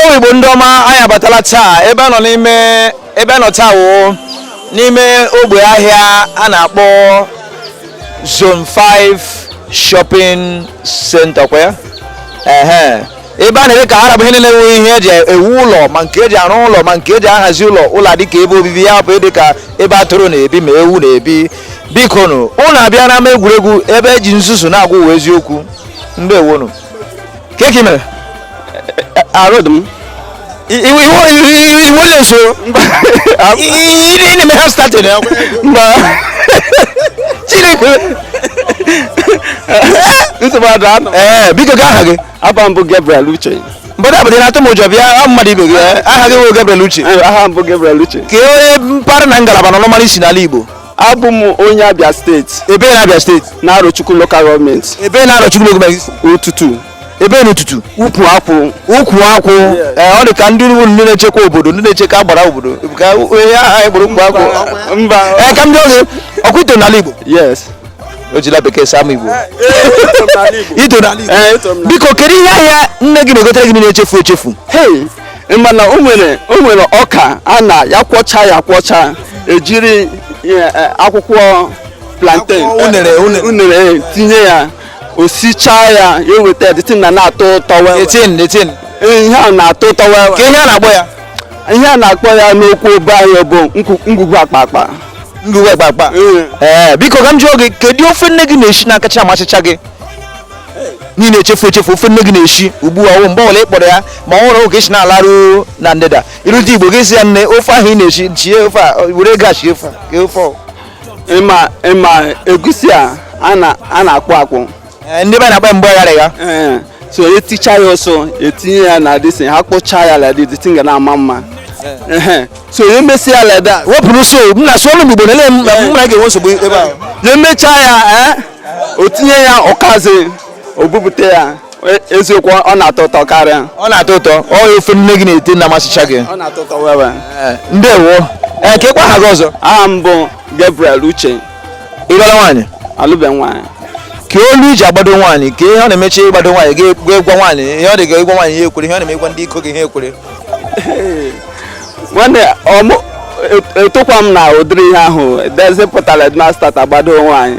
ụmụ igbo ndị ọma anyị abatala taa ebe a nọ n'ime ebe a nọ taa wụ n'ime ogbe ahịa a na-akpọ zone 5 shopping center kwa ya ehe ebe a na-ere ka arab ihe niile nwere ihe eji ewu ụlọ ma nke eji arụ ụlọ ma nke eji ahazi ụlọ ụlọ adị ka ebe obibi ya bụ dị ka ebe atụrụ na-ebi ma ewu na-ebi biko nụ unu abịa n'ama egwuregwu ebe eji nzuzu na-agwa ụwa eziokwu ndewonu kee ka i mere arụ dị m iwu leso ị na-eme ha statin mba chineke nsogbu adụ anọ ee biko ka aha gị aha m bụ gabriel uche mmadụ abụdị na-atụ m ụjọ bịa ọ mmadụ ibe gị aha gị wụ gabriel uche aha m bụ gabriel uche ka onye mpaghara na ngalaba na ọnụmara i si n'ala igbo abụ m onye abịa steeti ebee na abịa steeti na arochukwu lokal gọọmenti ebee na arochukwu lokal gọọmenti ututu ebee n'ututu ukwu akwụ ukwu akwụ ee ọ dị ka ndị ugwu ndị na-echekwa obodo ndị na-echekwa agbara obodo ka onye aha anyị gburu ukwu akwụ mba ee ka m jụọ gị ọ kwa i to n'ala igbo yes ejila bekee saa m igbo i to n'ala igbo Ee, eto m na- biko kedu ihe ahịa nne gị na-egotere gị na-echefu echefu hey mana o nwere o nwere ọka a na ya kwọcha ya kwọcha ejiri eh, eh, akwụkwọ plantain Akwụkwọ unere, eh, unere. unere eh, tinye ya o sichaa ya ya eweta ya the thing na-atọ ụtọ well well. the thing the thing Ee, ihe a na-atọ ụtọ well well. ka ihe a na-akpọ ya ihe a na-akpọ ya n'okwu ebe anyị bụ nkwu- ngwugwu akpakpa ngwugwu akpakpa Ee. ee biko ka m jụọ gị kedu ofe nne gị na-eshi na-akacha amasịcha gị n'i na-echefu echefu ofe nne gị na-eshi ugbu a ọ mgbe ọbụla ị kpọrọ ya ma ọ hụrụ ka esi na-alarụ na ndịda i rute igbo gị sị ya nne ofe ahụ ị na-eshi shie ofe a were ego a shie ofe a, shie ofe ọ. ị ma ị ma egusi a a na-akpụ akpụ eh, ndị be na-akpa mgbe ghara ya eh, so eticha ya ọsụ etinye ya na this thing ha kpụchaa ya like that the thing ga na-ama mma eh. so ya emesịa ya like that wepụrụ so m na sụọ n'Igbo na-ele m na mụ na gị ga-enwe nsogbu ebe a ya emechaa ya o tinye ya ọkazi o bupụta ya E, eziokwu ọ na-atọ ụtọ karịa ọ na-atọ ụtọ ọ ofe nne gị na-ete na-amasịcha gị ọ na-atọ ụtọ well well eh, ndewo ee eh, ka ịkwa aha gị ọzọ aha m bụ Gabriel Uche ị lụọla nwaanyị alụbe m nwaanyị ka olu i ji agbado nwaanyị ka ihe ọ na-emechi ịgbado nwaanyị ga gwa nwaanyị ihe ọ dị ga ịgwa nwaanyị ihe ekwere ihe ọ na-eme ịgwa ndị iko gị ihe ekwere nwanne etokwa m na ụdịrị ihe ahụ dezipụtara edmasta agbado nwaanyị